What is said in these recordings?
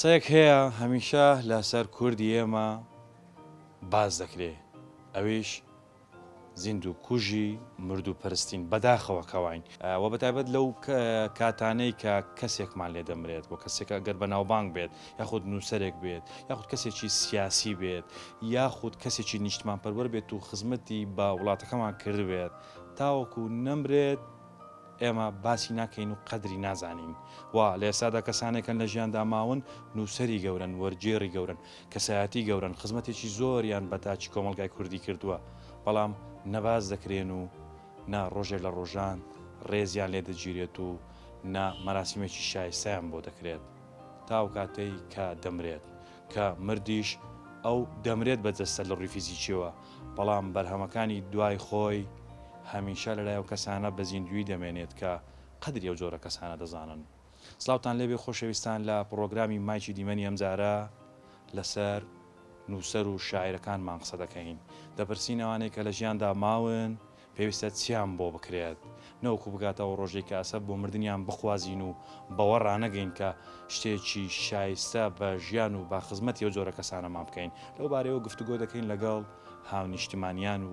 قسەیەک هەیە هەمیشە لەسەر کوردی ئێمە باز دەکرێ ئەویش زیندو کوژی مردو پەرستین بەداخەوە کەواین وە بەتایبەت لەو کاتانەی کە کەسێکمان لێ دەمرێت وە کەسێکە گەر بەناوبانگ بێت یاخود نووسەرێک بێت یاخود کەسێکی سیاسی بێت یاخود کەسێکی نیشتمان پەروەر بێت و خزمەتی بە وڵاتەکەمان کردبێت تاوەکو نەمرێت ئێمە باسی ناکەین و قەدری نازانین وا لە ئێستادا کەسانێکن لە ژیاندا ماون نووسەری گەورن وەرگێڕی گەورن کەسایەتی گەورەن خزمەتێکی زۆریان بە تاکی کۆمەڵگای کوردی کردووە بەڵام نە باس دەکرێن و نە ڕۆژێک لە ڕۆژان ڕێزیان لێ دەگیرێت و نە مەراسیمێکی شایستەیان بۆ دەکرێت تاوکاتەی کە دەمرێت کە مردیش ئەو دەمرێت بە جەستە لە ڕووی فیزیکیەوە بەڵام بەرهەمەکانی دوای خۆی هەمیشە لەلای ئەو کەسانە بە زیندووی دەمێنێت کە قەدری ئەو جۆرە کەسانە دەزانن. سڵاوتان لێبێ خۆشەویستان لە پڕۆگرامی مایکی دیمەنی ئەمجارە لەسەر نووسەر و شاعیرەکانمان قسە دەکەین دەپرسین ئەوانەی کە لە ژیاندا ماون پێویستە چیان بۆ بکرێت نەوەکو بگاتە ئەو ڕۆژەی کە ئەسەب بۆ مردنیان بخوازین و بەوە ڕانەگەین کە شتێکی شایستە بە ژیان و با خزمەتی ئەو جۆرە کەسانەمان بکەین لەو بارەیەوە گفتوگۆ دەکەین لەگەڵ هاونیشتیمانیان و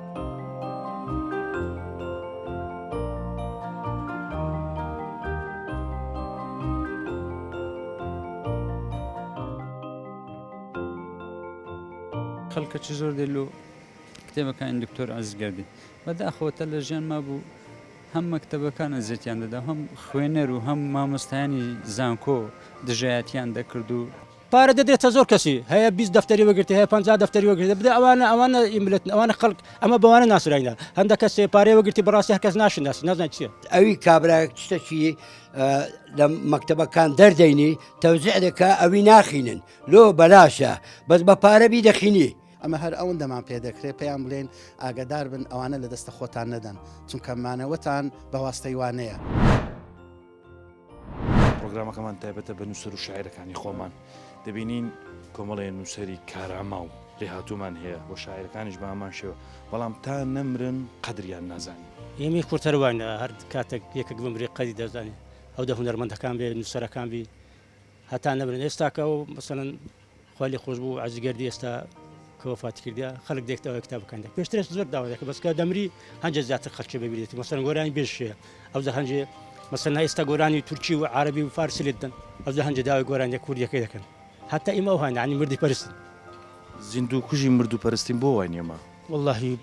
خەڵکە چ زۆر دێ لۆ کتێبەکانی دکتۆر عزیز گەردی بەداخەوەتە لە ژیان ما بوو هەم مەکتتەبەکان ئەزیێتیان دەدا هەم خوێنەر و هەم مامۆستایانی زانکۆ دژایەتیان دەکرد و پارە دەدرێتە زۆر کەسی هەیە بیست دەفتەری وەگرتێ هەیە پەنجا دەفتەری وەگرتێ بدە ئەوانە ئەوانە ئی ملەتن ئەوانە خەڵک ئەمە بەوانە ناسراینە هەندە کەسێ پارەی وەگرتی بەڕاستی هەر کەس ناشناسی نازانێ چییە. ئەوی کابرایەک شتەکی لە مەکتەبەکان دەردەینی تەوزیع دەکا ئەوی ناخینن لۆ بەلاشە بەس بە پارە بیدەخینی. ئەمە هەر ئەوەندەمان پێ دەکرێ پێیان بلێین ئاگەدار بن ئەوانە لە دەستە خۆتان نەدەن چونکە مانەوەتان بە واستەی وانەیە. پرۆگرامەکەمان تایبەتە بە نووسەر و شاعرەکانی خۆمان دەبینین کۆمەڵێ نووسری کاراما و لێهاتوومان هەیە بۆ شاعرەکانیش بامان شێوە بەڵام تا نەمرن قەدریان نازانین ئێمەی قورتەروانە هەر کاتێک یەکێک بمری قەدی دەزانین ئەو دە هونەرمەندەکان بێ نووسەرەکان بی هەتا نەمرن ئێستا کە ئەو مەسەلەن خوا لێ خۆش بوو عەزیز گەردی ئێستا کە وەفاتی کردە خەڵک دێکت ئەوە کتاب بکەن پێشترش زۆر داوا دەکە بەسکە دەمری هەنجە زیاتر خەلکی ببیێتی مەسەن گۆرانی بێشێ ئەو زە هەنجێ مەسەن ئێستا گۆرانی تورکی و عربی و فارسی لێت دەن ئەو زە هەنجە داوای گۆرانیە کوردیەکەی دەکەن هەتا ئیمە ئەو هاانی عنی مردی پرستن زیندوو کوژی مردو پەرستین بۆ وای نیەما واللهی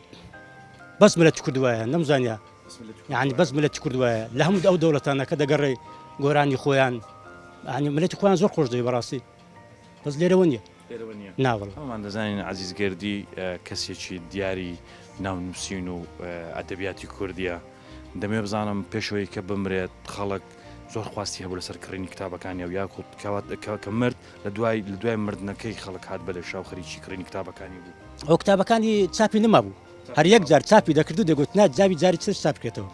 بەس ملەتی کورد وایە نەمزانیا یانی بەس ملەتی کورد وایە لە هەموو ئەو دەوڵەتانە کە دەگەڕێ گۆرانی خۆیان ئەنی ملەتی خۆیان زۆر خۆش دەی بەڕاستی بەس لێرەوە نیە ناوەڵ ئەمان دەزانین عزیزگردی کەسێکی دیاری ناونووسین و ئەدەبیاتی کوردیە دەمێ بزانم پێشەوەی کە بمرێت خەڵک زۆر خواستی هەبوو لەسەر کڕینی کتابەکانی و یاخود کەوات کە مرد لە دوای لە دوای مردنەکەی خەڵک هاات بەلێ شاو خەریکی کڕینی کتابەکانی بوو ئەو کتابەکانی چاپی نەما بوو هەر یەک جار چاپی دەکرد و دەگوت نا جاوی جاری تر چاپ بکرێتەوە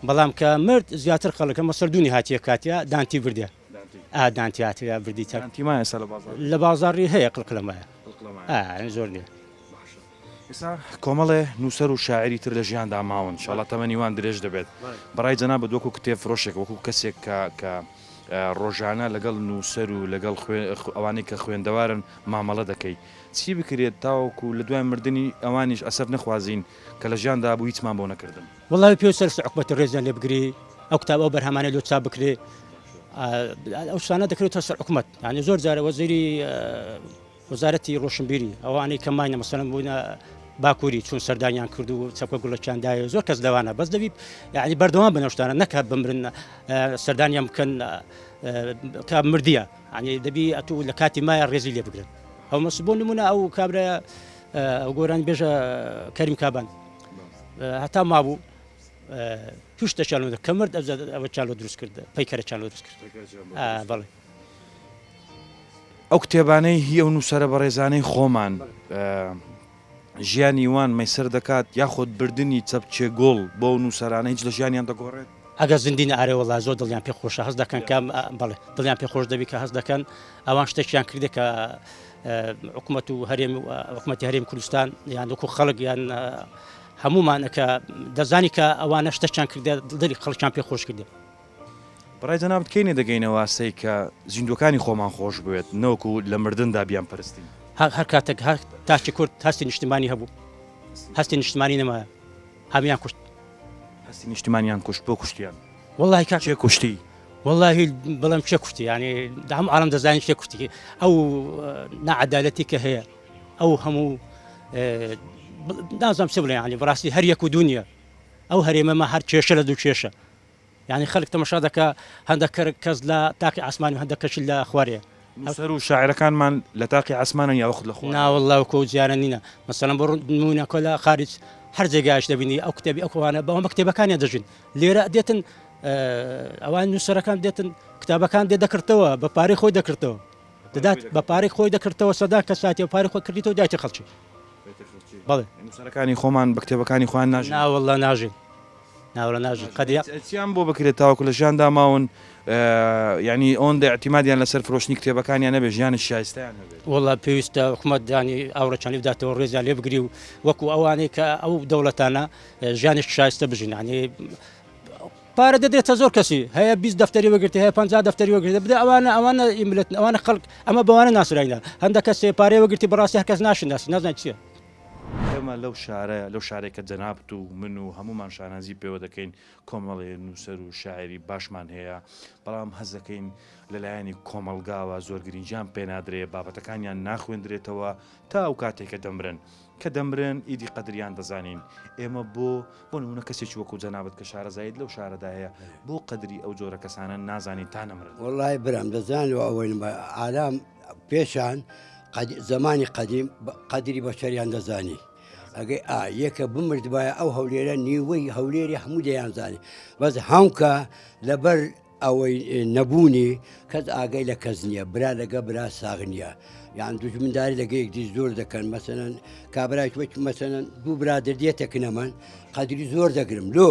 بەڵام کە مرد زیاتر خەڵک ئەمە سەردونی هاتیە کاتیا دانتی بردێ ئا دانتی هاتیە بردی چاپ دانتی مایە سەر بازار لە بازاری هەیە قلقلەمایە ئا زۆر نیە ئێستا کۆمەڵێ نووسەر و شاعری تر لە ژیاندا ماون شڵە تەمەنی وان درێژ دەبێت بەڕای جەنا بە دوکو کتێب فرۆشێک وەکو کەسێک کە کە ڕۆژانە لەگەڵ نووسەر و لەگەڵ ئەوانەی کە خوێندەوارن مامەڵە دەکەیت چی بکرێت تاوەکو لە دوای مردنی ئەوانیش ئەسەف نەخوازین کە لە ژیان دابوو هیچمان بۆ نەکردن. وەڵا بەپێ و سەرشت عوقبەت ڕێزیان لێ بگری ئەو کتاب ئەو بەرهەمانەی لۆ چاپ بکرێ ئەو شتانە دەکرێتە سەر عوقمەت یانی زۆر جارە وەزیری وەزارەتی ڕۆشنبیری ئەوانەی کە ماینە مەسەلەن بووینە باکووری چون سەردانیان کرد و چەکۆ گوڵەکیان داوێ زۆر کەس لەوانە بەس دەبی یعنی بەردەوام بنەشتانە نەکە بمرن سەردانیان بکەن کە مردە یانی دەبی ئەتوو لە کاتی مایە ڕێزی لێ بگرن ئەو مەس بۆ نمونە ئەو کابرا ئەو گۆرانی بێژە کەریم کابان هەتا مابوو پشتە چالۆ کەمرد ئەوە چالۆ دروست کرد پەیکەرە چالۆ دروست کرد بەڵێ ئەو کتێبانەی هی ئەو نووسرە بەڕێزانەی خۆمان ژیانی وان مەیسەر دەکات یاخود بردنی چەپکێ گوڵ بەو نووسەرانە هیچ لە ژیانیان دەگۆڕێت؟ ئەگەر زیندین ئارێ وەڵا زۆر دڵیان پێ خۆشە هەست دەکەن کە بەڵێ دڵیان پێ خۆش دەبی کە هەست دەکەن ئەوان شتێکیان کردێک کە حکوومەت و هەرێم و حکوومەتی هەرێم کوردستان یان وەکو خەڵک یان هەمومان کە دەزانی کە ئەوانە شتەکیان کردێت دڵی خەڵکیان پێ خۆش کردێت بەڕای جەنابت کەی نەدەگەینەوە ئاستێک کە زیندووەکانی خۆمان خۆش بوێت نەوەکو لە مردندا بیانپەرستین؟ هەر کاتێک تاکی کورد هەستی نیشتیمانی هەبوو، هەستی نیشتیمانی نەمایە، هەموویان کوشت. هەستی نیشتیمانیان کوشت، بۆ کوشتیان؟ وەڵڵاهی کاک، کێ کوشتی؟ وەڵڵاهی بڵێم کێ کوشتی؟ یانی هەموو عاڵەم دەزانین کێ کوشتی؟ ئەو ناعەدالەتی کە هەیە، ئەو هەموو نازانم چ بڵێم، یانی بەڕاستی هەر یەک و دوو نییە. ئەو هەرێمەمان هەر کێشە لە دوو کێشە، یانی خەلک تەمەشا دەکا هەندەک کە کەس لە تاقی عەسمانی و هەندەک کەشی لە خوارێ. نووسەر و شاعیرەکانمان لە تاقی عەسمانن یا وەخت لە خوارن؟ نا وەللە وەک ئەو جارە نینە مەسەلەن بۆ نموونە کۆ لە خاریج هەر جێگایش دەبینی ئەو کتێبی ئەو کەوانە بەوە بە کتێبەکانیان دەژین لێرە دێتن ئەوان نووسەرەکان دێتن کتابەکان دێ دەکردەوە بە پارەی خۆی دەکردەوە دەدات بە پارەی خۆی دەکردەوە سەدا کە ساتی و پارەی خۆی کردیتەوە دایتە خەڵکی بەڵێ نووسەرەکانی خۆمان بە کتێبەکانی خۆیان ناژین نا وەللە ناژین ناوەلەناژن قەدیە. چیان بۆ بکرێت تاوەکو لە ژیاندا ماون یانی ئەوەندە ئیعتیمادیان لەسەر فرۆشتنی کتێبەکانیان نەبێت ژیانی شایستەیان هەبێت؟ وەڵا پێویستە حکومەت دانی ئاوڕەچانی بداتەوە ڕێزیان لێ بگری و وەکو ئەوانەی کە ئەو دەوڵەتانە ژیانێکی شایستە بژین یانی پارە دەدرێتە زۆر کەسی هەیە بیست دەفتەری وەگرتی هەیە پنج دەفتەری وەگرێت بدە ئەوانە ئەوانە ئیملت ئەوانە خەڵک ئەمە بەوانە ناسراینە هەندە کەسێ پارەی وەگرتی بەڕاستی هەر کەس ناشناسی نازان چییە ئێمە لەو شارە، لەو شارەی کە جەنابت و من و هەموومان شانازی پێوە دەکەین، کۆمەڵێ نووسەر و شاعیری باشمان هەیە، بەڵام هەست دەکەین لە لایەنی کۆمەڵگاوە زۆر گرینگیان پێ نادرێ، بابەتەکانیان ناخوێندرێتەوە تا ئەو کاتەی کە دەمرن. کە دەمرن ئیدی قەدریان دەزانین. ئێمە بۆ، بۆ نموونە کەسێکی وەکوو جەنابت کە شارەزاییت لەو شارەدا هەیە، بۆ قەدری ئەو جۆرە کەسانە نازانین تا نەمرن؟ وەڵڵاهی برام دەزانیت و ئەوەی نەبا ئارام پێشان زمانی قەدیم قەدری بەشەریان دەزانی ئەگەی ئا یەکە بمردبایە ئەو هەولێرە نیوەی هەولێری هەموو دەیانزانانی بەس هەمکە لەبەر ئەوەی نەبوونی کەس ئاگەی لە کەس نییە برا لەگە برا ساغ نییە یان دوژمنداری لەگەیەک دی زۆر دەکەن مەسەن کابراش وەک مەسەن دوو برادر دێتە کنەمان قەدری زۆر دەگرم لۆ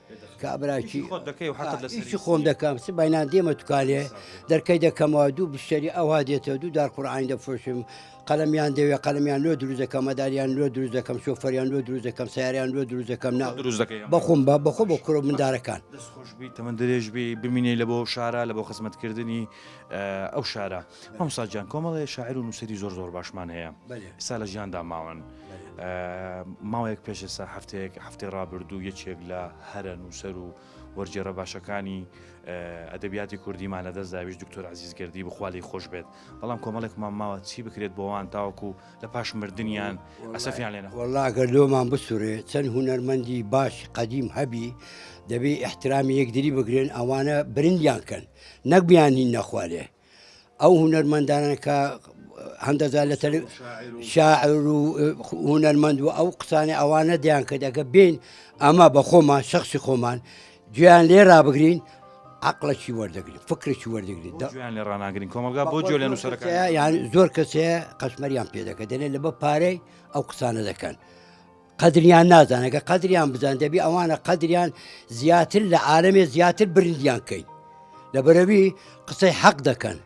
کابراکی ئیشی خۆم دەکەم سبینان دێمە توکالێ دەرکەی دەکەمەوە دوو بشتری ئەوها دێتەوە دوو دار قڕعین دەفرۆشم قەلمیان دەوێ قەلمیان لۆ دروست دەکەم مەداریان لۆ دروست دەکەم شۆفەریان لۆ دروست دەکەم ساریان لۆ دروست دەکەم نا دروست دەکەم بەخۆم بە بەخۆ بە کورە مندارەکان تەمە درێژبی بمینەی لە بۆ شارە لە بۆ خزمەتکردنی ئەو شارە. مامۆستا گیان کۆمەڵێ شاعر و نووسەری زۆر زۆر باشمان هەیە ئستا لە ژیاندا ماون ماوەیەک پێش ئێستا هەفتەیەک هەفتەی ڕابردوو یەکێک لە هەرە نووسەر و وەرجێڕە باشەکانی ئەدەبیاتی کوردیمان لە دەست داویش دکتۆر عزیزگردی بخوالی خۆش بێت بەڵام کۆمەڵێکمان ماوە چی بکرێت بۆوان تاوەکو لە پاش مردیان ئەسەفیان لێنە وڵاگەر لۆمان بسوورێ چەند هوەرمەندی باش قەدیم هەبی دەبێ احترامی یەکدری بگرێن ئەوانە برندیان کەن نەک بیانی نەخوارێ ئەو هونەرمەندانە کە هەندەزار لە تەل شاعر و هونەرمەند و ئەو قسانە ئەوانە دیان کە دەگە بین ئەمە بە خۆمان شخصی خۆمان گویان لێ رابگرین عقلەکی وەردەگرین فکرێکی وەردەگرین لە ڕناگرین کۆمەلگا بۆ جوێ لە نووسەرەکە یان زۆر کەسەیە قەشمەریان پێ دەکە دەێ لە بە پارەی ئەو قسانە دەکەن. قەدریان نازانەکە قەدریان بزان دەبی ئەوانە قەدریان زیاتر لە عاالمێ زیاتر برندیان کەین لە بەرەوی قسەی حەق دەکەن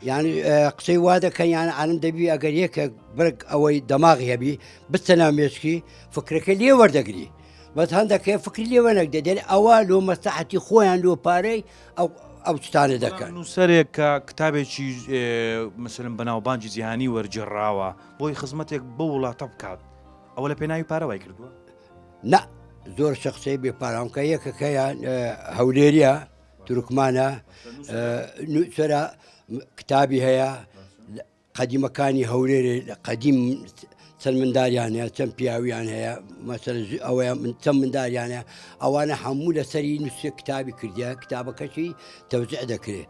یعنی قسەی وا دەکەن یان عالم دەبی ئەگەر یەکە بەرگ ئەوەی دەماغی هەبی بچە ناو مێشکی فکرەکە لێ وەردەگری بەس هەندەکە فکری لێوە نەک دەدێت ئەوە لۆ مەسەحەتی خۆیان لۆ پارەی ئەو ئەو شتانە دەکەن نووسەرێک کە کتابێکی مسلم بەناوبانجی جیهانی وەرجێڕاوە بۆی خزمەتێک بە وڵاتە بکات ئەوە لە پێناوی پارە وای کردووە نا زۆر شە قسەی بێ پارامکە یەکەکەیان هەولێریە تورکمانە نوچرا کتابی هەیە قەدیمەکانی هەولێرێ لە قەدیم چەند منداریان هەیە چەند پیاویان هەیە مەسەر ئەوەیە من چەند منداریان هەیە ئەوانە هەموو لەسەری نووسێ کتابی کردیا کتابەکەشی تەوزع دەکرێت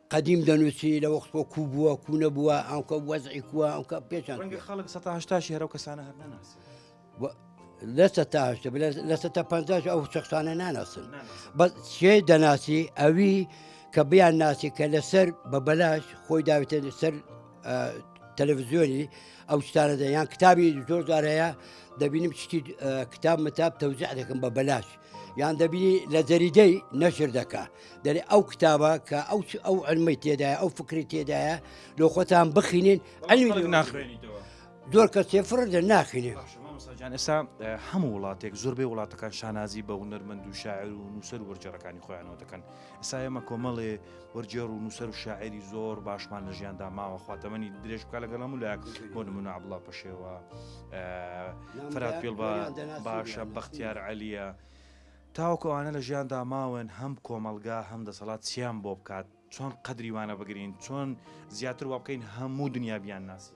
قەدیم دەنووسی لە وەختۆ کو بووە کو نەبووە ئەوکە وەزعی کووە ئەوکە پێچان ڕەنگە خەڵک سە هشتاشی هەرو کەسانە هەر نەناسی لەسە تاهشت لەسە تا پ ئەو شخصانە ناناسن بە چێ دەناسی ئەوی کە بیان ناسی کە لەسەر بە بەلاش خۆی داوێتە لەسەر تەلەڤزیۆنی ئەو شتانە دەیان کتابی زۆر جارەیە دەبینم شتی کتاب متاب تەوزع دەکەم بە بەلاش یان دەبینی لە جەریدەی نەشر دەکا دەێ ئەو کتابە کە ئەو ئەو ئەلمەی تێدایە ئەو فکری تێدایە لۆ خۆتان بخینین ئەلمی ناخوێنیتەوە زۆر کە سێفر دە ناخینێن. جان ئێستا هەموو وڵاتێک زۆربەی وڵاتەکان شانازی بە هونەرمەند و شاعر و نووسەر وەرجەرەکانی خۆیانەوە دەکەن ئێستا ئێمە کۆمەڵێ وەرگێڕ و نووسەر و شاعێری زۆر باشمان لە ژیاندا ماوە خواتەمەنی درێژ بکە لەگەڵ هەموو لایەک بۆ نمونە عبڵا پەشێوە فرات پێڵ بە باشە بەختیار عەلیە تاوەکو ئەوانە لە ژیاندا ماون هەم کۆمەلگا هەم دەسەڵات چیان بۆ بکات چۆن قەدریوانە بگرین چۆن زیاتر وا بکەین هەموو دنیا بیان ناسی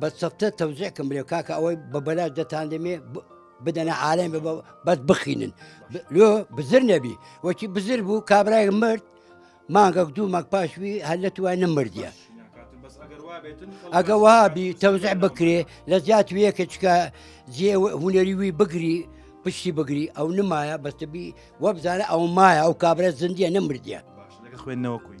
بە سەفتە تەوزیع کەم برێ کاکە ئەوەی بە بەلاش دەتان دەمێ بدەنە عالم بە بەس بخینن لۆ بزر نەبی وەکی بزر بوو کابراای مرد مانگەک دوو مەک پاشوی هەر لە توای نەمردە ئەگە وابی تەوزع بکرێ لە زیات ویەکە چکە جێ هوەری وی بگری پشتی بگری ئەو نمایە بەستبی وەبزانە ئەو مایە ئەو کابرا زندیە نەمردە خوێندنەوە کوی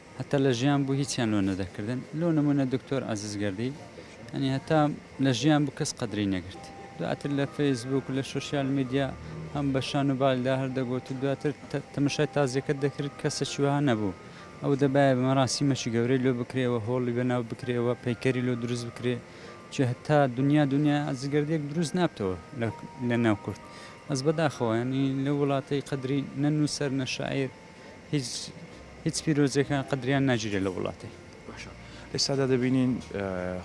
هەتا لە ژیان بوو هیچیان لۆ نەدەکردن لۆ نمونە دکتۆر عزیز گردی ئەنی هەتا لە ژیان بوو کەس قەدری نەگرت دواتر لە فەیسبوک و لە سوسیال میدیا هەم بە شان و بالدا هەردەگوت و دواتر تەمەشای تازیەکەت دەکرد کەسە چوها نەبوو ئەو دەبایە بە مەراسی مەچی گەورەی لۆ بکرێەوە هۆڵی بەناو بکرێەوە پەیکەری لۆ دروست بکرێ چی هەتا دنیا دنیا ئازگردێک دروست نابتەوە لە ناو کورد ئەس بەداخەوەنی لە وڵاتەی قەدری نە نووسەر نە شاعیر هیچ هیچ پیرۆزێکە قەدریان ناگیرێ لە وڵاتێ. باشە ئێستادا دەبینین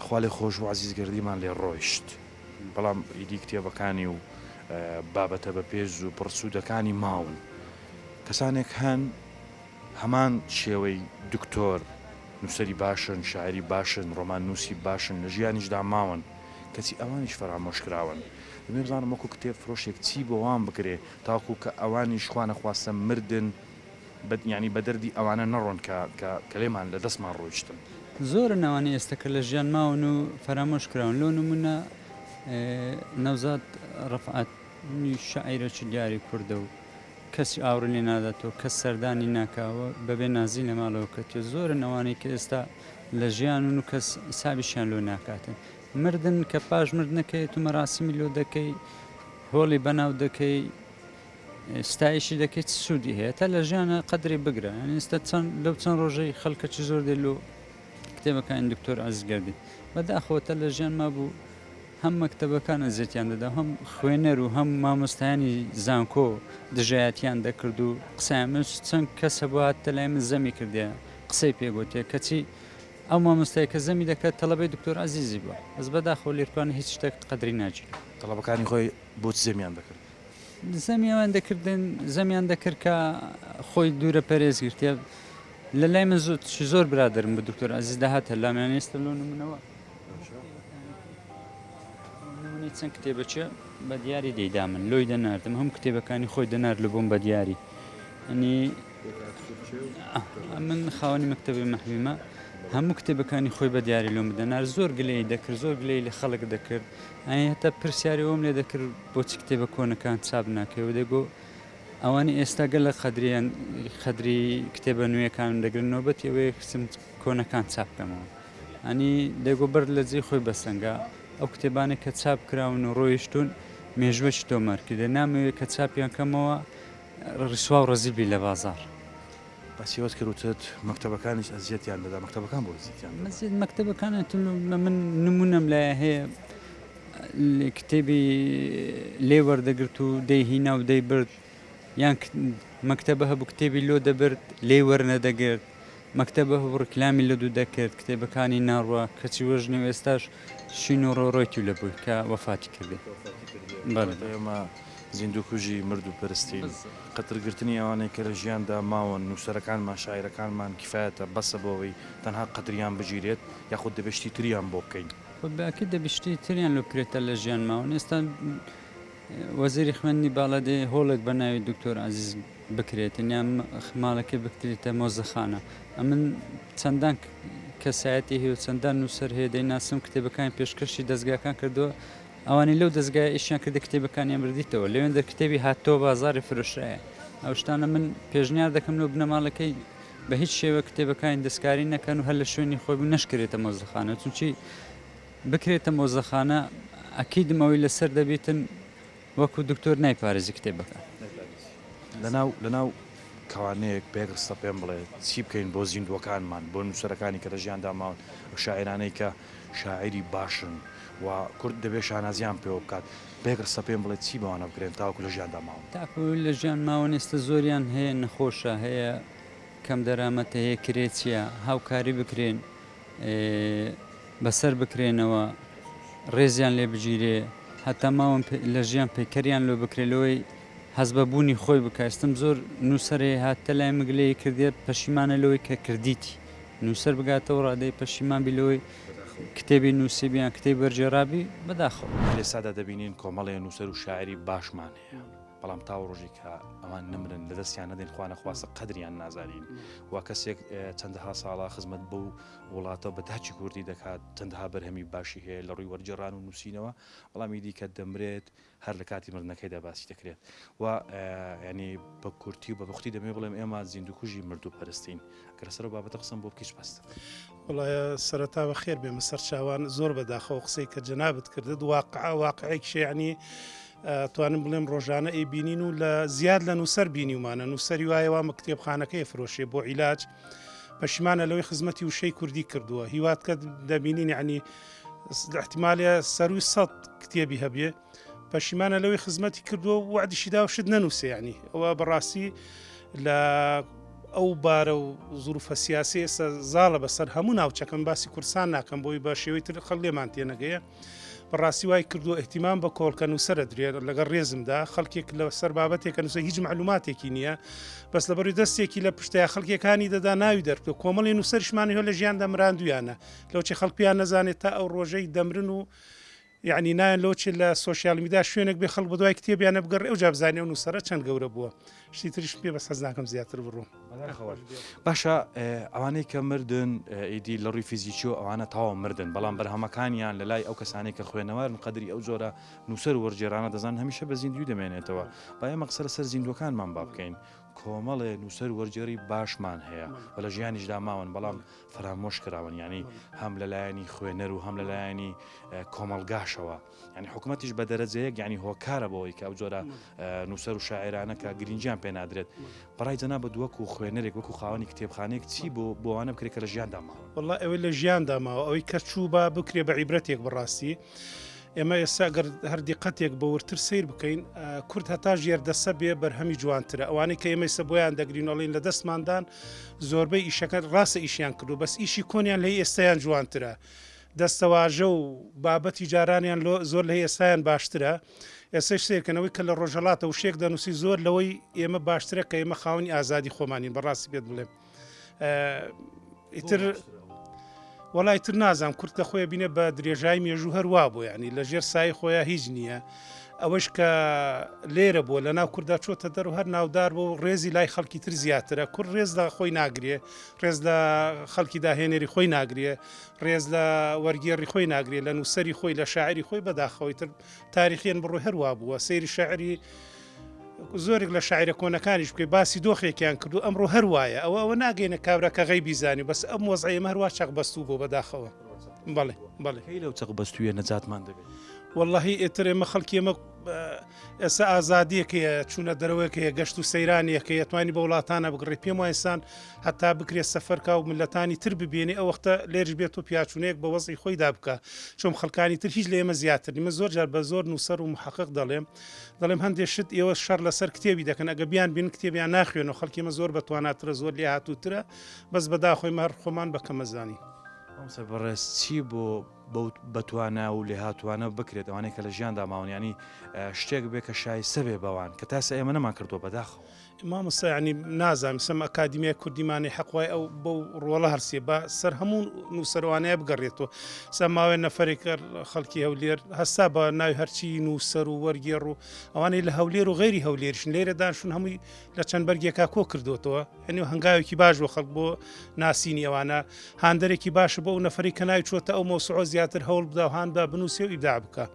خوا لێ خۆش بوو عەزیز گەردیمان لێ ڕۆیشت بەڵام ئیدی کتێبەکانی و بابەتە بە پێز و پڕسوودەکانی ماون کەسانێک هەن هەمان شێوەی دکتۆر نووسری باشن شاعری باشن ڕۆمان نووسی باشن لە ژیانیشدا ماون کەچی ئەوانیش فەرامۆش کراون دەمێ بزانم وەکو کتێب فرۆشێک چی بۆوان بکرێ تاکو کە ئەوانیش خوا نەخواستە مردن بە یانی بە دەردی ئەوانە نەڕۆن کە کە کە لێمان لە دەستمان ڕۆیشتن. زۆرن ئەوانەی ئێستە کە لە ژیان ماون و فەرامۆش کراون لۆ نمونە نەوزاد ڕەفعەت نی شاعیرە چ دیاری کوردە و کەسی ئاوڕی لێ ناداتەوە کەس سەردانی ناکا و بە بێ نازی لە ماڵەوە کەتیە زۆرن ئەوانەی کە ئێستا لە ژیانون و کەس حسابیشیان لۆ ناکاتن مردن کە پاش مردنەکەی ئێتوو مەراسیمی لۆ دەکەی هۆڵی بەناو دەکەی ستایشی دەکەیت چ سوودی هەیە تا لە ژیانە قەدری بگرە یعنی ئێستا چەند لەو چەند ڕۆژەی خەڵکە چ زۆر دێ لۆ کتێبەکانی دکتۆر ئازگردی بەداخەوەتە لە ژیان ما بوو هەم مەکتتەبەکان ئەزیەتیان دەدا هەم خوێنەر و هەم مامۆستایانی زانکۆ دژایەتیان دەکرد و قسەیان من چەند کەس هەبوو هاتە لای من زەمی کردێ قسەی پێگوتێ کەچی ئەو مامۆستای کە زەمی دەکات تەڵەبەی دکتۆر عزیزی بووە ئەس بەداخۆ لێرپان هیچ شتێک قەدری ناگیرێت تەڵەبەکانی خۆی بۆچ زەمیان دەکرد؟ زەمیان دەکردن زەمیان دەکرد کە خۆی دوورە پەرێزگرتە لە لای من زۆر زۆر برادرم بە دکتۆر ئازیز داهاتە لامیان ئێستا لۆ نمونەوە نمونەی چەند کتێبەچە بە دیاری دەیدا من لۆی دەناردم هەم کتێبەکانی خۆی دەنار لە بۆم بە دیاری ئەنی من خاوەنی مەکتتەبی مەحویمە هەموو کتێبەکانی خۆی بە دیاری لۆم بدەنار زۆر گلەی دەکرد زۆر گلەی لە خەڵک دەکرد ئەی هەتا پرسیاری ئەوەم لێ دەکرد بۆچی کتێبە کۆنەکان چاپ ناکەی و دەگۆ ئەوانی ئێستا گەلە قەدریان قەدری کتێبە نوێەکانم دەگرن نۆبەتی ئەوەیە کچم کۆنەکان چاپ بکەمەوە ئەنی دەگۆ بەر لە جێ خۆی بەسەنگە ئەو کتێبانێک کە چاپ کراون و ڕۆیشتون مێژوەش تۆمارکردە نامەوێت کە چاپیان کەمەوە ڕیسوا و ڕەزیل بی لە بازاڕ. باسیوت کرد وتت مەکتەبەکانیش ئەزیەتیان دەدا مەکتەبەکان بۆ ئەزیەتیان دەدا؟ ئەزیەت مەکتەبەکان ئەتون من نمونەم لایە هەیە کتێبی لێ وەردەگرت و دەی هینا و دەی برد یان مەکتەبە هەبوو کتێبی لۆ دەبرد لێ وەرنەدەگرت مەکتەبە هەبوو ڕیکلامی لە دوو دەکرد کتێبەکانی ناڕوە کەچی وەژنێ و ئێستاش شین و ڕۆڕۆیتی لە بووی کە وەفاتی کردێ بەڵێ. زیندووکوژی مرد و پەرستین، قەترگرتنی ئەوانەی کە لە ژیاندا ماون، نووسەرەکانمان، شاعیرەکانمان، کیفایەتە، بەسە بۆ ئەوەی تەنها قەتریان بگیرێت، یاخود دەبێت شتی تریان بۆ بکەین. خۆ بە ئەکید دەبێت شتی تریان لۆ بکرێتە لە ژیان ماون. ئێستا وەزیری خوێندنی باڵا دەیەوێت هۆڵێک بە ناوی دکتۆر عەزیز بکرێتن یان ماڵەکەی بکترێتە مۆزەخانە. ئەمن چەندان کەسایەتی هەیە و چەندان نووسەر هەیە دەیناسم کتێبەکانیان پێشکەشی دەزگاکان کردووە، ئەوانەی لەو دەزگایە ئیشیان کردە کتێبەکانیان بردیتەوە لەوێندەر کتێبی هاتتەوە بازاری فرۆشرایە ئەو شتانە من پێشنیار دەکەم لەو بنەماڵەکەی بە هیچ شێوە کتێبەکانی دەستکاری نەکەن و هەر لە شوێنی خۆی بوو نەشکرێتە مۆزەخانە چونچی بکرێتە مۆزەخانە ئەکیدم ئەوەی لەسەر دەبیتن وەکو دکتۆر نایپارێزی کتێبەکان لەناو لەناو کەوانەیەک پێک ڕستە پێم بڵێ چی بکەین بۆ زیندووەکانمان بۆ نووسەرەکانی کە لە ژیاندا ماون ئەو شاعرانەی کە شاعیری باشن و کورد دەبێت شانازیان پێوە بکات. بە یەک ڕستە پێم بڵێ چی بەوانە بکرێن تاوەکو لە ژیاندا ماون؟ تاکو لە ژیان ماون ئێستە زۆریان هەیە نەخۆشە هەیە کەم دەرامەتە هەیە کرێچیە هاوکاری بکرێن بەسەر بکرێنەوە ڕێزیان لێ بگیرێ هەتا ماون لە ژیان پەیکەریان لۆ بکرێ لەوەی هەز بە بوونی خۆی بکە ئێستم زۆر نووسەرێ هاتە لای مگلەیە کردێت پەشیمانە لەوەی کە کردیتی نووسەر بگاتەوە ڕادەی پەشیمان بی لەوەی کتێبی نووسیبی یان کتێبی وەرگێڕابی، بەداخەوە. لەئێستادا دەبینین کۆمەڵێ نووسەر و شاعیری باشمان هەیە، بەڵام تاوەو ڕۆژێک کە ئەوان نەمرن، لەدەستیان نەدەین، خوانەخواستە قەدریان نازانین و کەسێک چەندەها ساڵە خزمەت بەو وڵاتە بە تاکی کوردی دەکات، چەندەها بەرهەمی باشی هەیە لەڕووی وەرگێڕان و نووسینەوە، بەڵام ئیدی کە دەمرێت، هەر لە کاتی مردنەکەیدا باسی دەکرێت و یعنی بە کورتی و بە بختی دەمێ بڵێم ئێمە زیندوکوژی مردوو پەرستین کە لەسەر و بابەتە قسم بۆ بکیش بەست. وڵایە سەرەتا بە خێر بێمە سەرچاوان زۆر بەداخەوە قسەی کە جەنابت کردت واقع واقعێک شێعنی توانم بڵێم ڕۆژانە ئەی بینین و لە زیاد لە نووسەر بینیمانە نووسری وایە وامە کتێبخانەکەی فرۆشێ بۆ عیلاج پەشیمانە لەوەی خزمەتی وشەی کوردی کردووە هیوات کە دەبینین عنی احتمالە سەروی سەد کتێبی هەبێ پەشیمانە لەوەی خزمەتی کردووە وعدیشی داوشت نەنووسێنی ئەوە بەڕاستی لە ئەو بارە و زروفە سیاسی ئێستا زاڵە بەسەر هەموو ناوچەکەم باسی کورسان ناکەم بۆی بە شێوەی تر خەڵێمان تێنەگەیە بەڕاستی وای کردووە اهتمام بە کۆڵکە نووسەرە درێت لەگە ڕێزمدا خەڵکێک لە سەر بابەتێکە نووسە هیچ معلوماتێکی نییە بەس لە بەری دەستێکی لە پشتیا خەڵکەکانی دەدا ناوی دەرکە کۆمەڵی نووسەرشمانی هە لە ژیان دەمراندویانە لەوچی خەڵکیان نەزانێت تا ئەو ڕۆژەی دەمرن و یعنی نایەن لۆچی لە سوسیال میدا شوێنێک بێ خەڵ بەدوای کتێبیانە بگەڕێ و جابزانانی و نووسرە چەند گەورە بووە شتی تریش پێ بەس حەز ناکەم زیاتر بڕۆم بەداخەوە. باشە ئە، ئەوانەی کە مردن ئە، ئیدی لە ڕووی فیزیکی و ئەوانە تەواو مردن بەڵام بەرهەمەکانیان لە لای ئەو کەسانەی کە خوێنەوارن قەدری ئەو جۆرە نووسەر و وەرگێرانە دەزانن هەمیشە بە زیندووی دەمێنێتەوە با ئێمە قسە لەسەر زیندووەکانمان با بکەین کۆمەڵێ نووسەر و وەرگێڕی باشمان هەیە و لە ژیانیشدا ماون بەڵام فەرامۆش کراون یانی هەم لە لایەنی خوێنەر و هەم لە لایەنی ئە، کۆمەڵگاشەوە. یانی حکومەتیش بە دەرەجەیەک یانی هۆکارە بەوەی کە ئەو جۆرە نووسەر و شاعێرانە کە گرنجیان پێ نادرێت بەڕای جەنا بە دووەک و خوێنەرێک وەکو خاوەنی کتێبخانێک چی بۆ بۆوانە بکرێت کە لە ژیاندا ماوە والله ئەوەی لە ژیاندا ماوە ئەوەی کە چوو با بکرێ بە عیبرەتێک بڕاستی. ئێمە ئێستا گەر هەردی قەتێک بە ورتر سیر بکەین کورد هەتا ژێردەسە بێ بەرهەمی جوانترە ئەوانەی کە ئێمەی سە بۆیان دەگرینەڵین لە دەستماندان زۆربەی ئیشەکە ڕاستە ئیشیان کردو بەس ئیشی کۆنیان لە ئێستیان جوانترە. دەستەواژە و بابەتی جارانیان لۆ زۆر لە ئێستایان باشترە ئێستەش سەیرکەن ئەوەی کە لە ڕۆژهەڵاتە وشەیەک دەنوسی زۆر لەوەی ئێمە باشترە کە ئێمە خاوەنی ئازادی خۆمانین بەڕاستی پێت بڵێم ئیتر وەڵای تر نازانم کورد لە خۆی بینێ بە درێژای مێژوو هەروا بۆ ینی لە ژێر سای خۆیان هیچ نییە ئەوەش کە لێرە بووە لە ناو کووردا چۆتە دەر و هەر ناودار بۆ و ڕێزی لای خەڵکی تر زیاترە کورد ڕێز لە خۆی ناگرێ ڕێز لە خەڵکی داهێنەری خۆی ناگرێ ڕێز لە وەرگێڕی خۆی ناگرێ، لە نووسەری خۆی، لە شاعری خۆی بەداخەوەی تر تاریخیەن بڕۆی هەروا بووە سەیری شاعری زۆرێک لە شاعرە کۆنەکانیش بکەی باسی دۆخێکیان کردو ئەمڕۆ هەروایە ئەوە ئەوە ناگەینە کابراکە غەی بیزانانی بەس ئەم وەزعەیە هەروە چەق بەستوو بۆ بەداخەوە بەڵێ بەڵێ هەی لەو چەق بەستویە نەجاتمان دەبێت واللهی ئێتر ئێمە خەڵکی ئەمە ئێستا ئازادیەک هەیە چوونە دەرەوەیەک هەیە گەشت و سەیرانیەک هەیە توانی بە وڵاتانە بگڕی پێم وایسان هەتا بکرێت سەفەرکە و ملەتانی تر ببێنێ ئەو وەختە لێرش بێت و پیاچونەیەک بە وەزی خۆی دابکە چۆم خەکانی تر هیچ لە ئێمە زیاتر نیمە زۆر جار بە زۆر نووسەر و محقق دەڵێم دەڵێم هەندێک شت ئێوە شەر لەسەر کتێبی دەکەن ئەگە بیان بین کتێبیان ناخوێن و خەڵکیمە زۆر بە تواناترە زۆر لێ هاتووترە بەس بەداخۆی مەر خۆمان بەکەمەزانی. بەڕێز چی بۆ بەو بەتوانا و لێهاتووانە بکرێت، ئەوانەی کە لە ژیاندا ماون، یانی شتێک بێ کە شایستە بێ بەوان، کە تا ئێستا ئێمە نەمان کردووە بەداخەوە. مامۆستا یانی نازانم سم ئەکادیمیای کوردی مانەی حەق وای ئەو بەو ڕۆڵە هەرسێ با سەر هەموو نووسەروانەیە بگەڕێتەوە سا ماوەێ نەفەرێک کە خەڵکی هەولێر هەستا بە ناوی هەرچی نووسەر و وەرگێڕ و ئەوانەی لە هەولێر و غێری هەولێرشن لێرە داشون هەمووی لە چەند بەرگێکا کۆ کردوتەوە ئەنی و هەنگاوێکی باش بۆ خەڵک بۆ ناسینی ئەوانە هاندەرێکی باشە بۆ ئەو نەفری کە ناوی چۆتە ئەو مۆسعۆ زیاتر هەوڵ بدا و هااندا بنووسێ و ئیدا بکە.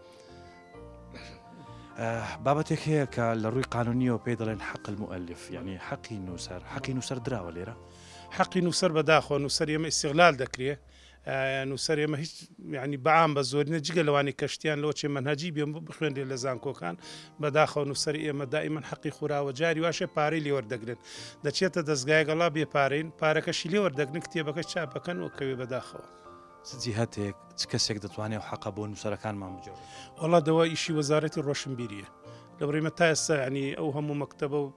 بابەتێک هەیە کە لە ڕووی قانونیەوە پێ دەڵێن حەقل مؤلف یعنی حەقی نووسەر حەقی نووسەر دراوە لێرە حەقی نووسەر بەداخۆ نووسەر ئێمە ئیسیغلال دەکرێت نووسەر ئێمە هیچ یعنی بەعام بە زۆرینە جگە لەوانی کەشتیان لەوە چێ منهجی بێ بخوێنرێ لە زانکۆکان بەداخەوە نووسەر ئێمە دائیمەن حەقی خوراوە جاری واشە پارەی لێوەردەگرن دەچێتە دەستگایگەڵا بێ پارەین پارەکەشی لێوەردەگرن کتێبەکە چاپەکەن و کەوێ بەداخەوە. چ جیهەتێک چ کەسێک دەتوانێت و حەقە بۆ نووسەرەکانمان بجۆڕێت؟ وەڵا دەوا ئیشی وەزارەتی ڕۆشنبیریە لە بڕیمە تا ئێستا ینی ئەو هەموو مەکتتەبە و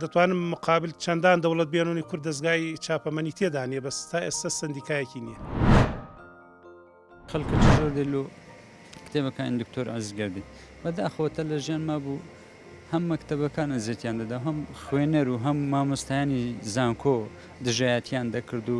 دەتوانم مقابل چەندان دەوڵەت بێنونی کورد دەستگای چاپەمەنی تێدانە بەس تا ئێستا سندیکایەکی نییە خەڵکە زۆر دل و کتێبەکانی دکتۆر ئازگردی بەداخەوەتە لە ژیان ما بوو هەم مەکتتەبەکان ئەزێتیان دەدا هەم خوێنەر و هەم مامۆستایانی زانکۆ دژایەتیان دەکرد و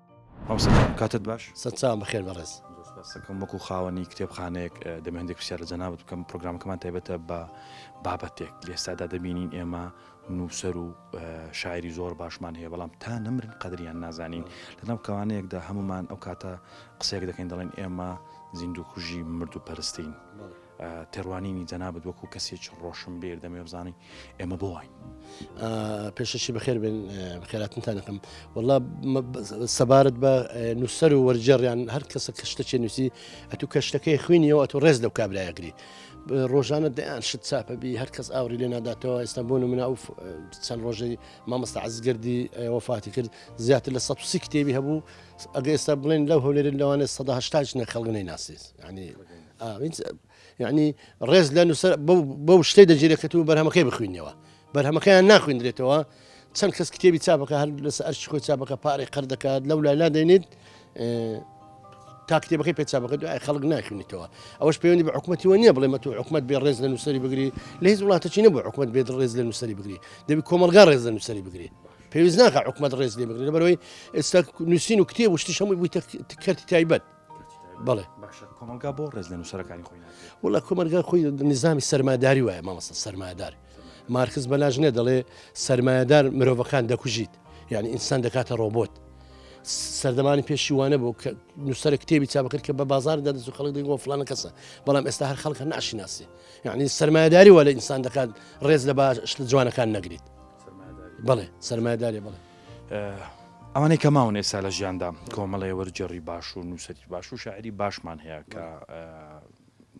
مامۆستا گیان کاتت باش. سەت چاوم بەخێر بەڕێز. زۆر سوپاست دەکەم وەکو خاوەنی کتێبخانەیەک دەمە هەندێک پرسیار لە جەنابت بکەم پرۆگرامەکەمان تایبەتە بە بابەتێک لە ئێستادا دەبینین ئێمە نووسەر و شاعری زۆر باشمان هەیە بەڵام تا نەمرن قەدریان نازانین لەناو کەوانەیەکدا هەمومان ئەو کاتە قسەیەک دەکەین دەڵێن ئێمە زیندوو کوژی مرد و پەرستین. تێڕوانینی جەنابت وەکو کەسێکی ڕۆشنبیر دەمێ بزانین ئێمە بۆ واین پێشەشی بەخێر بن خێراتنتانەکەم وڵا سەبارەت بە نووسەر و وەرجێڕیان هەر کەسە کە شتەچێ نووسی ئەتو کە شتەکەی خوینیەوە ئەتو ڕێز لەو کابراەگری ڕۆژانە دەیان شت چاپەبی هەر کەس ئاوری لێ ناداتەوە ئێستا بۆ منە ئەو چەند ڕۆژەی مامەستا عزگردی وەفاتی کرد زیاتر لە 130 کتێبی هەبوو ئەگە ئێستا بڵێن لەو هەولێرن لەوانێت 1970 نەخەڵگەی ناسیز ینی یعنی ڕێز لە نووسەر بەو شتەی دەجێرێکەت و بەرهەمەکەی بخوێنەوە بەرهەمەکەیان ناخوێندرێتەوە چەند کەس کتێبی چاپەکە هەر لەس ئەرش خۆی چاپەکە پارێک قەر دەکات لەو لای نادێنیت تا کتێبەکەی پێ چاپەکە دوای خەڵک ناخوێنیتەوە ئەوش پەیوەندی بە حکوومەتیوە نییە بڵێ مەتو حکوومەت بێ ڕێز لە نووسری بگری لە هیچ وڵاتەچی نە بۆ حکوومەت بێت ڕێز لە نووسری بگری دەبی کۆمەلگا ڕێز لە نووسری بگری پێویست ناکە حکوومەت ڕێز لێ بگرێت بەرەوەی ئێستا نووسین و کتێب وشتی هەمووی بوویتە کەرتی تایبەت بڵێ باشە کۆمەلگا بۆ ڕێز لە نووسەرەکانی خۆی وڵە کۆمەلگا خۆی نظامی سەرماداری وایە مامەسە سەرمادار مارکز بەلاژنە دەڵێ سەرمایهدار مرۆڤەکان دەکوژیت یعنی ئینسان دەکاتە ڕۆبۆت سەردەمانی پێشی وانە بۆ کە نووسەر کتێبی چاپکرد کە بە بازار دەدەست و خەڵک دەگۆ فلانە کەسە بەڵام ئێستا هەر خەڵکە ناشیناسی یعنی سەرمایهداری وە لە ئینسان دەکات ڕێز لە باش جوانەکان نەگریت بڵێ سەرمایهداری بڵێ ئەوانەی کە ماون ئێستا لە ژیاندا کۆمەڵێ وەرجێڕی باش و نووسری باش و شاعری باشمان هەیە کە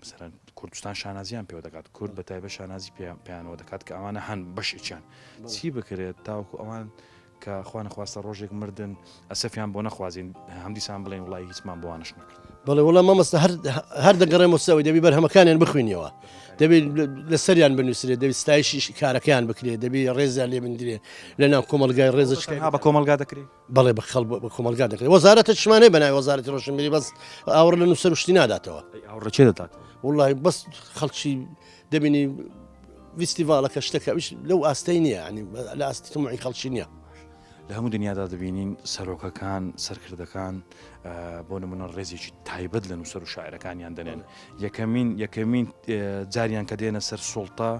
سەرەن کوردستان شانازیان پێوە دەکات کورد بە تایبە شانازی پێیانەوە دەکات کە ئەوانە هەن بەشێکیان چی بکرێت تاوکو ئەوان کە خوانەخواستە ڕۆژێک مردن ئەسەفیان بۆ نەخوازیین هەمدیسان بڵێن وڵی هیچمان بۆوانش نەکە بەڵێ وڵە مامەستا هەر دەگەڕێمە سەوەی دەبی بەرهەمەکانیان بخوێنیەوە دەبێت لە سەریان بنووسێت دەبی ستایشی کارەکەیان بکرێت دەبی ڕێزیان لێ بندرێت لە ناو کۆمەلگای ڕێزش بە کۆمەلگا دەکرێت بەڵێ بە خەڵ بە کۆمەلگا دەکرێت وەزارەتە شمانەی بەنای وەزارەتی ڕۆشنبیری بەس ئاوڕ لە نووسەر شتی ناداتەوە ڕچێ دەدات وڵی بەس خەڵکی دەبینی ویستیڤالەکە شتەکە لەو ئاستەی نییە ینی لە ئاستی تمعی خەڵکی نییە لە هەموو دنیادا دەبینین سەرۆکەکان سەرکردەکان بۆ نمونە ڕێزێکی تایبەت لە نووسەر و شاعرەکانیان دەنێن یەکەمین یەکەمین جاریان کە دێنە سەر سڵتا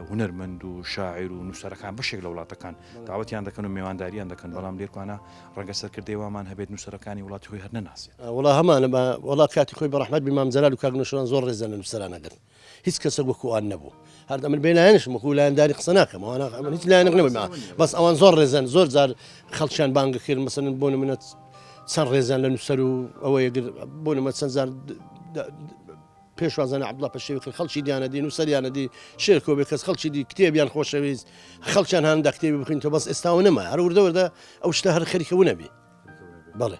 هوەرمەند و شاعیر و نووسەرەکان بەشێک لە وڵاتەکان داوەتیان دەکەن و میوانداریان دەکەن بەڵام لێکوانە ڕەنگە سەرکردی وامان هەبێت نووسەرەکانی وڵاتی هۆی هەر نەناسێت وڵا هەمانە وڵا کاتی خۆی بەڕحمەت بمام جەلال و کاگنشان زۆر ڕێزە لە نووسەرانەگەن هیچ کەسەک وەکو ئان نەبوو هەر ئەمن بێ لایەنشم وەکو لایەنداری قسە ناکەم ئەوانە ئەمن هیچ لایەنق نەبوو ما بەس ئەوان زۆر ڕێزن زۆر جار خەڵکیان بانگە کرد مەسەن بۆ نمونە چەند ڕێزیان لە نووسەر و ئەوە یەگر بۆ نمە چەند جار پێشوازانە عبدڵ پەشێوی کرد خەڵکی دیانە دی نووسەریانە دی شێرکۆ بێ کەس خەڵکی دی کتێبیان خۆشەویست خەڵکیان هەندە کتێبی بخین تۆ بەس ئێستاەوە نەما هەر وردەوردە ئەو شتە هەر خەریکەونەبی بەڵێ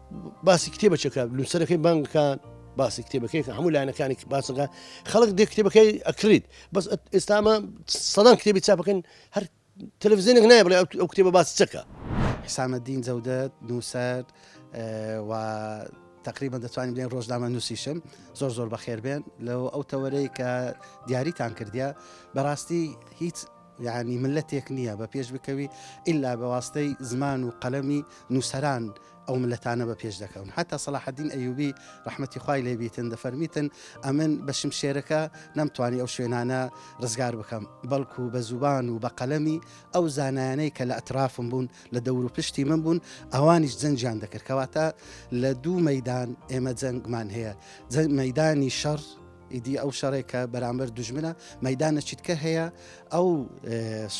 باسی کتێبەچەکە نووسەرەکەی بانگەکان باسی کتێبەکەی کە هەموو لایەنەکانی باسەکە خەڵک دێ کتێبەکەی ئەکریت بەس ئێستامە سەدان کتێبی چاپەکەن هەر تەلەڤزیێنێک نایە بڵێ ئەو کتێبە باسی چەکە حسامەدین جەودەت نووسەر و تقریبا دەتوانین بڵێن ڕۆژنامە نووسیشم زۆر زۆر بەخێربێن لەو ئەو تەوەرەی کە دیاریتان کردیا بەڕاستی هیچ یعنی ملەتێک نییە بە پێش بکەوی ئللا بەواستەی زمان و قەلەمی نووسران ئەو ملەتانە بە پێش دەکەون هەتا سەلاحەدین ئەیوبی ڕحمەتی خوای لێ بیتن دەفەرمیتن ئەمن بە شمشێرەکە نەمتوانی ئەو شوێنانە ڕزگار بکەم بەڵکو بە زوبان و بە قەلەمی ئەو زانایانەی کە لە ئەترافم بوون لە دەور و پشتی من بوون ئەوانیش جەنجیان دەکردکەواتە لە دوو مەدان ئێمە جەنگمان هەیە جەنگ مەدانی شەڕ ئیدی ئەو شەڕێک کە بەرامبەر دوژمنە مەدانە چیتکە هەیە ئەو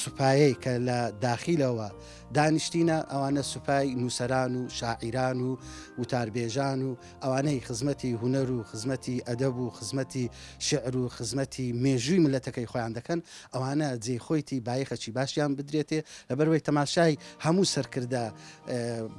سوپایەی کە لە داخیلەوە دانیشتینە ئەوانە سوپای نووسران و شاعیران و وتاربێژان و ئەوانەی خزمەتی هوەر و خزمەتی ئەدەب و خزمەتی شعر و خزمەتی مێژووی ملەتەکەی خۆیان دەکەن ئەوانە جێ خۆیتی بایخەچی باشیان بدرێتێ لەبەروەی تەماشای هەموو سەرکردە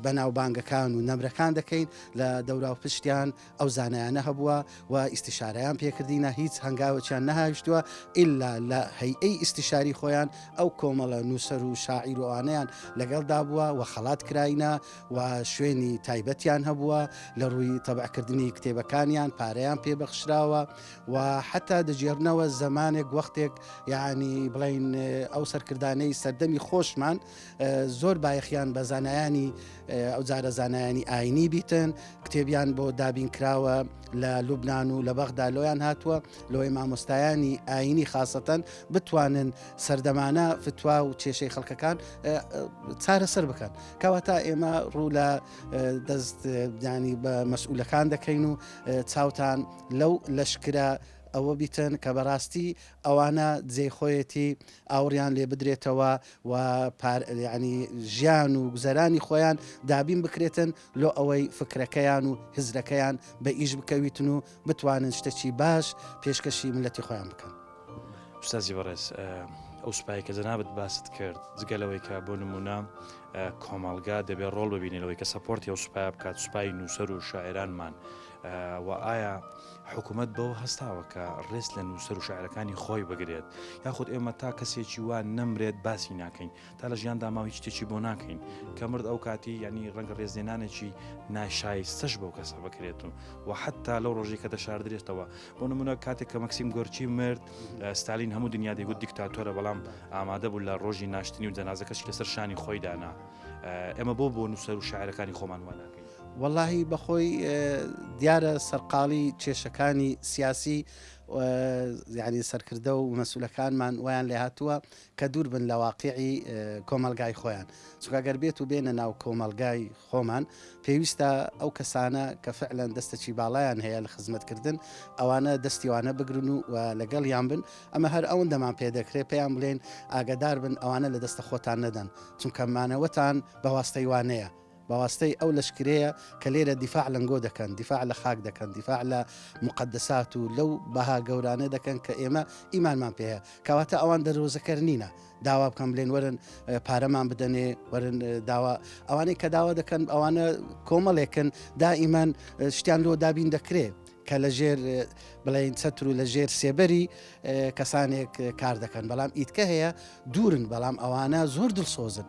بەناوبانگەکان و نەمرەکان دەکەین لە دەوراو پشتیان ئەو زانایانە هەبووە و ئیستیشارەیان پێکردینە هیچ هەنگاوەکیان نەهاویشتووە ئللا لە هەیئەی ئیستیشاری خۆیان ئەو کۆمەڵە نووسەر و شاعیر و ئەوانەیان لەگەڵدا بووە و خەڵات کراینە و شوێنی تایبەتیان هەبووە لە ڕووی تەبعکردنی کتێبەکانیان پارەیان پێ بەخشراوە و حتا دەگێڕنەوە زەمانێک وەختێک یعنی بڵین ئەو سەرکردانەی سەردەمی خۆشمان زۆر بایەخیان بە زانایانی ئەو جارە زانایانی ئاینی بیتن کتێبیان بۆ دابین کراوە لە لوبناان و لە بەغدا لۆیان هاتووە لۆی مامۆستایانی ئاینی خاستەن بتوانن سەردەمانە فتوا و کێشەی خەڵکەکان چارەسەر بکەن کەواتە ئێمە ڕوو لە دەستدانی بە مەسئولەکان دەکەین و چاوتان لەو لەشکرە ئەوە بیتن کە بەڕاستی ئەوانە جێ خۆیەتی ئاوڕیان لێ بدرێتەوە و پار یانی ژیان و گوزەرانی خۆیان دابین بکرێتن لۆ ئەوەی فکرەکەیان و هزرەکەیان بە ئیش بکەویتن و بتوانن شتەکی باش پێشکەشی ملەتی خۆیان بکەن. استاذی بەڕێز ئەو سوپایە کە جەنابت باست کرد جگە لەوەی کە بۆ نمونە کۆمەڵگا دەبێت ڕۆڵ ببینێت لەوەی کە سەپۆرتی ئەو سوپای بکات سوپای نووسەر و شاعرانمان وە ئایا حکومەت بەوە هەستاوە کە ڕێز لە نووسەر و شاعرەکانی خۆی بگرێت یاخود ئێمە تا کەسێکی وا نەمرێت باسی ناکەین تا لە ژیان داماوی شتێکی بۆ ناکەین کە مرد ئەو کاتی ینی ڕەنگە ڕێزدێنانێکی ناشایستەش بەو کەسە بکرێت و و حتا لەو ڕۆژی کە دەشاردرێتەوە بۆ نمونە کاتێک کە مەکسیم گۆرچی مرد ستالین هەموو دنیا دەیگوت دیکتاتۆرە بەڵام ئامادە بوو لە ڕۆژی ناشتنی و جەنازەکەش لەسەر شانی خۆی دانا ئێمە بۆ بۆ نووسەر و شاعرەکانی خۆمان واناکەین وەڵاهی بەخۆی دیارە سەرقاڵی کێشەکانی سیاسی یعنی سەرکردە و مەسولەکانمان ویان لێ هاتووە کە دوور بن لە واقعی کۆمەلگای خۆیان چکگەر بێت و بێنە ناو کۆمەلگای خۆمان پێویستە ئەو کەسانە کە فعلەن دەستەچی باڵیان هەیە لە خزمەتکردن ئەوانە دەستیوانە بگرن و لەگەڵ یان بن ئەمە هەر ئەوەن دەمان پێ دەکرێ پێیان بڵێن ئاگدار بن ئەوانە لە دەستە خۆتان نەدەن چونکەمانەوەتان بەواستەیوانەیە بەواستەی ئەو لەشکرەیە کە لێرە دیفاع لەنگۆ دەکەن، دیفاع لە خاک دەکەن، دیفاع لە موقەدەسات و لەو بەها گەورانە دەکەن کە ئێمە ئیمانمان پێ هەیە. کەواتە ئەوان دەروەزەکەر نینە داوا بکەن بلێن وەرن پارەمان بدەنێ، وەرن داوا. ئەوانەی کە داوا دەکەن ئەوانە کۆمەڵێکن دائیمان شتیان لۆ دابین دەکرێ کە لە ژێر بڵێن چەتر و لە ژێر سێبەری کەسانێک کار دەکەن، بەڵام ئیتکە هەیە دوورن، بەڵام ئەوانە زۆر دڵسۆزن.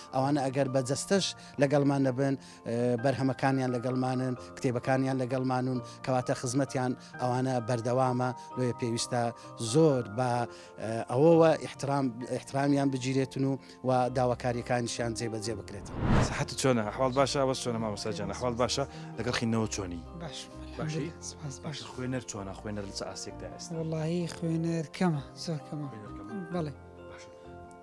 ئەوانە ئەگەر بە جەستەش لەگەڵمان نەبن بەرهەمەکانیان لەگەڵمانن کتێبەکانیان لەگەڵمانون کەواتە خزمەتیان ئەوانە بەردەوامە لۆیە پێویستە زۆر بە ئەوەوە احترامیان بگیرێتن و و داواکاریەکانیشیان جێبەجێ بکرێت سەحەت چۆنە حواڵ باشە ئەوە چۆنە مامەساجانە حواڵ باشە لەگەڵ خینەوە چۆنی باش باش خوێنەر چۆنە خوێنەر لە ئاسێکدا ئێستا وڵی خوێنەر کەمە زۆر کەمە بەڵێ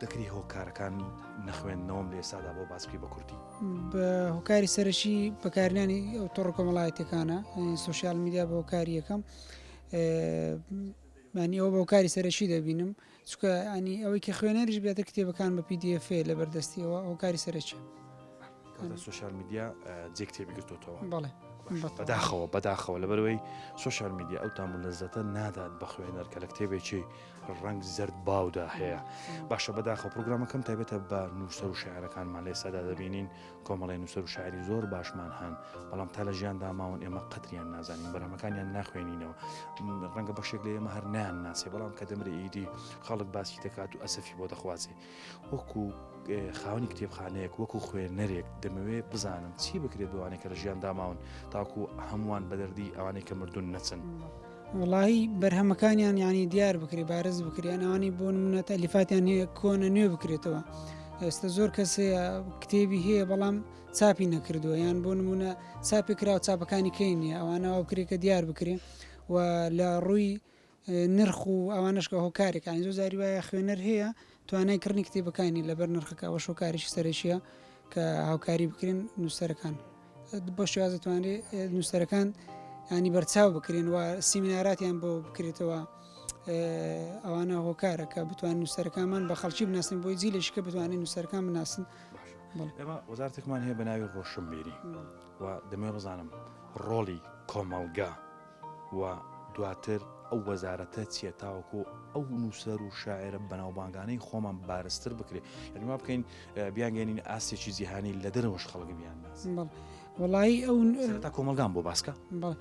دەکری هۆکارەکانی نەخوێندنەوەم لە ئێسادا بۆ باس بکەی بە کوردی بە هۆکاری سەرەکی بەکارنانی ئەو تۆڕ کۆمەڵایەتەکانە سوسیال میدیا بە هۆکاری یەکەم مانی ئەو بۆکاری سەرەکی دەبینم چکە ئەنی ئەوەی کە خوێنەریش بێتە کتێبەکان بە پیدFA لە بەردەستیەوە هۆکاری سەرەکی. سوسیال میدیا جێ کتێبی گرتوتەوە بەداخەوە بەداخەوە لەبەرەوەی سوسیال میدیا ئەو تام و لەزەتە نادات بە خوێنەر کە لە کتێبێکی ڕنگ زرد باودا هەیە باشە بەداخە پرۆگرامەکەم تایبەتە بە نووسەر و شاعرەکانمان لە ئێستادا دەبینین کۆمەڵی نووسەر و شاعری زۆر باشمان هەن بەڵام تا لە ژیان داماون ئێمە قەتریان نازانین بەرامەکانیان ناخوێنینەوە ڕەنگە بەشێک لە ئێمە هەر نیان ناسێ بەڵام کە دەمرە ئیدی خەڵک باسی دەکات و ئەسەفی بۆ دەخوازێ وەکو خاونی کتێبخانەیەک وەکو خوێنەرێک دەمەوێت بزانم چی بکرێت بەوانێک کە لە ژیان داماون تاکو هەمووان بەدەردی ئەوانەی کە مردون نەچن. وڵی بەرهەمەکانیان ینی دیار بکرێ بارز بکریان ئەوانی بۆ منە تەلیفاتیان هەیە کۆنە نوێ بکرێتەوە. ئێستا زۆر کەس هەیە کتێبی هەیە بەڵام چاپی نەکردووە یان بۆ نمونە چاپی کراوە چاپەکانی کەی نیە ئەوانەوە کرێکە دیار بکرێ و لە ڕووی نرخ و ئەوانەش کە هۆکارێکە یانی زۆر جاری وایە خوێنەر هەیە توانای کڕنی کتێبەکانی نیە لەبەر نرخەکە ئەوەش هۆکاریشی سەرەکیە کە هاوکاری بکرێن نووسەرەکان بۆ شێواز دەتوانرێت نووسەرەکان ینی بەرچاو بکرێن و سیمیناراتیان بۆ بکرێتەوە ئەوانە هۆکارە کە بتوان نووسەرەکانمان بە خەڵکی بناسن بۆی جی لەشکە بتوانین نووسەرەکان بناسن ئێمە وەزارتێکمان هەیە بە ناوی ڕۆشنبیری و دەمێ بزانم ڕۆڵی کۆمەڵگا و دواتر ئەو وەزارەتە چیە تاوەکو ئەو نووسەر و شاعرە بەناوبانگانەی خۆمان بارزتر بکرێت یعنی وا بکەین بیانگەێنین ئاستێکی جیهانی لە دەرەوەش خەڵک بیان ناس بەڵ وڵایی ئەو سەر تا کۆمەلگان بۆ باسکە بەڵ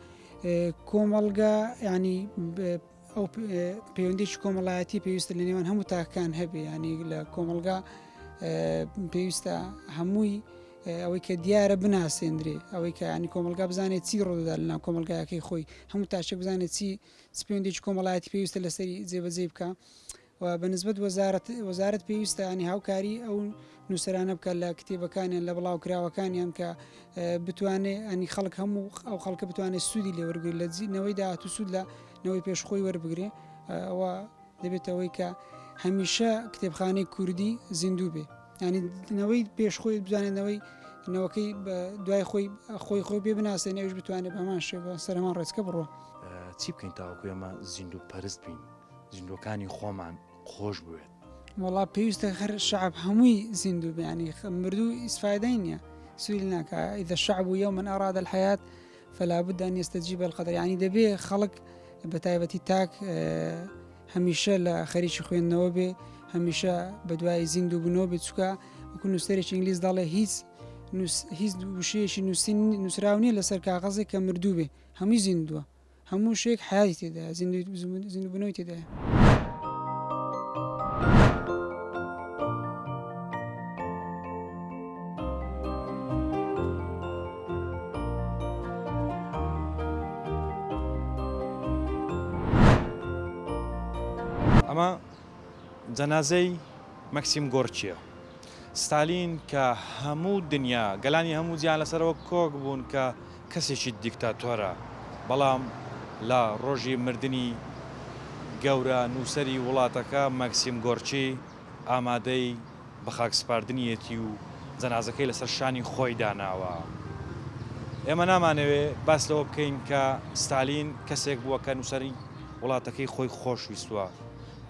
ئێ، کۆمەڵگا ینی بە- ئەو پ- ئێ، پەیوەندیش کۆمەڵایەتی پێویستە لە نێوان هەموو تاکەکان هەبێ ینی لە کۆمەڵگا ئێ، پێویستە هەمووی ئەوەی کە دیارە بناسێندرێ ئەوەی کە ینی کۆمەلگا بزانێت چی ڕۆدا لەناو کۆمەلگایەکەی خۆی هەموو تاشێک بزانێت چی سپێندێکی کۆمەڵایەتی پێویستە لەسەری جێبەجێ بکە و بەنسبت وەزارت وەزارت پێویستە ینی هاوکاری ئەو نووسرانە بکە لە کتێبەکانیان لە بڵاوکراوەکانیان کە بتوانێت ئەنی خەڵک هەموو ئەو خەڵکە بتوانێت سوودی لێوەرگری لە جینەوەی داهات و سوود لە نەوەی پێشخۆی وەربگرێ ئەوە دەبێت ئەوەی کە هەمیشە کتێبخانەی کوردی زیندوو بێ ینی نەوەی پێش خۆی بزانێت نەوەی نەوەکەی بە دوای خۆی خۆی خۆی پێ بناسێن ئەوش بتوانێت بەمان شێ بە سەرمان ڕێچکە بڕۆ چی بکەین تاوەکو ئێمە زیندوو پەرست بین زیندوەکانی خۆمان خۆش بوێت وڵا پێویستە هەر شعب هەمووی زیندوو بیانی مردوو ئیسفادای نییە سویل ناکە ئیدە شعب و یو من ئاراد الحیات فلا بد ان يستجيب القدر یعنی دەبێ خەڵک بە تایبەتی تاک هەمیشە لە خەریکی خوێندنەوە بێ هەمیشە بەدوای زیندوو بنەوە بێ چکە وەکو نووسەرێکی ئینگلیس دەڵێ هیچ هیچ وشەیەکی نووسین نووسراو نیە لەسەر کاغەزێک کە مردوو بێ هەمووی زیندووە هەموو شێک حیاتی تێدا زیندوو بنەوەی تێدا. ئەمە جەنازەی مەکسیم گۆرکیە ستالین کە هەموو دنیا گەلانی هەموو جیان لەسەرەوە کۆک بوون کە کەسێکی دیکتاتۆرە بەڵام لە ڕۆژی مردنی گەورە نووسری وڵاتەکە مەکسیم گۆرکی ئامادەی بە خاک سپاردنیەتی و جەنازەکەی لەسەر شانی خۆی داناوە. ئێمە نامانەوێ باس لەوە بکەین کە ستالین کەسێک بووە کە نووسەری وڵاتەکەی خۆی خۆش ویستوە.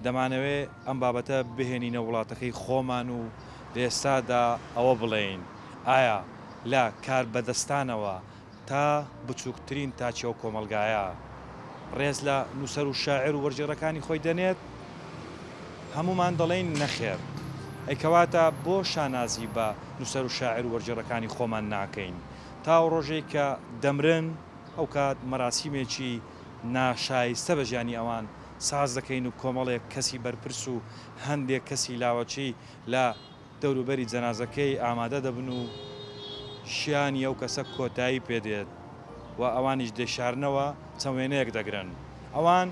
دەمانەوێ ئەم بابەتە بهێنینە وڵاتەکەی خۆمان و لە ئێستادا ئەوە بڵێین ئایا لە کاربەدەستانەوە، تا بچووکترین تاکی ئەو کۆمەڵگایە ڕێز لە نووسەر و شاعیر و وەرگێڕەکانی خۆی دەنێت، هەموومان دەڵێین نەخێر، ئەی کەواتە بۆ شانازی بە نووسەر و شاعیر و وەرگێڕەکانی خۆمان ناکەین تا ئەو ڕۆژەی کە دەمرن، ئەو کات مەراسیمێکی ناشایستە بە ژیانی ئەوان ساز دەکەین و کۆمەڵێک کەسی بەرپرس و هەندێک کەسی لاوەکی لە دەوروبەری جەنازەکەی ئامادە دەبن و شیانی ئەو کەسە کۆتایی پێدێت و ئەوانیش دەیشارنەوە، چەند وێنەیەک دەگرن، ئەوان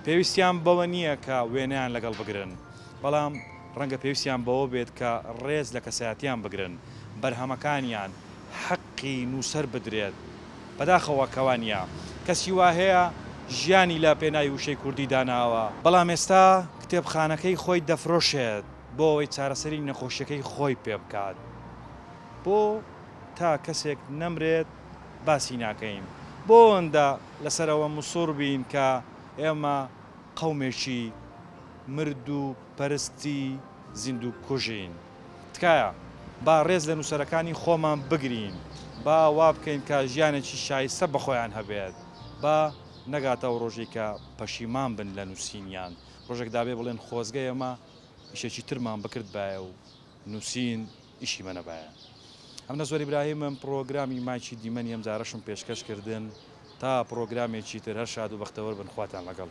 پێویستیان بەوە نییە کە وێنەیان لەگەڵ بگرن، بەڵام ڕەنگە پێویستیان بەوە بێت کە ڕێز لە کەسایەتیان بگرن، بەرهەمەکانیان حەقی نووسەر بدرێت، بەداخەوە کە وا نییە، کەسی وا هەیە ژیانی لە پێناوی وشەی کوردی داناوە، بەڵام ئێستا کتێبخانەکەی خۆی دەفرۆشێت. بۆ ئەوەی چارەسەری نەخۆشیەکەی خۆی پێ بکات بۆ تا کەسێک نەمرێت باسی ناکەین بۆ ئەوەندە لەسەر ئەوە مسوڕ بین کە ئێمە قەومێکی مرد و پەرستی زیندوو کوژین تکایە با ڕێز لە نووسەرەکانی خۆمان بگرین با وا بکەین کە ژیانێکی شایستە بە خۆیان هەبێت با نەگاتە ئەو ڕۆژەی کە پەشیمان بن لە نووسینیان ڕۆژێک دابێ بڵێن خۆزگە ئێمە ئیشێکی ترمان بکردبایە و نووسین ئیشی مە نەبایە. ئەمنە زۆر ئیبراهیمم پڕۆگرامی مایکی دیمەنی ئەمجارەشم پێشکەش کردن تا پڕۆگرامێکی تر هەر شاد و بەختەوەر بن خواتان لەگەڵ.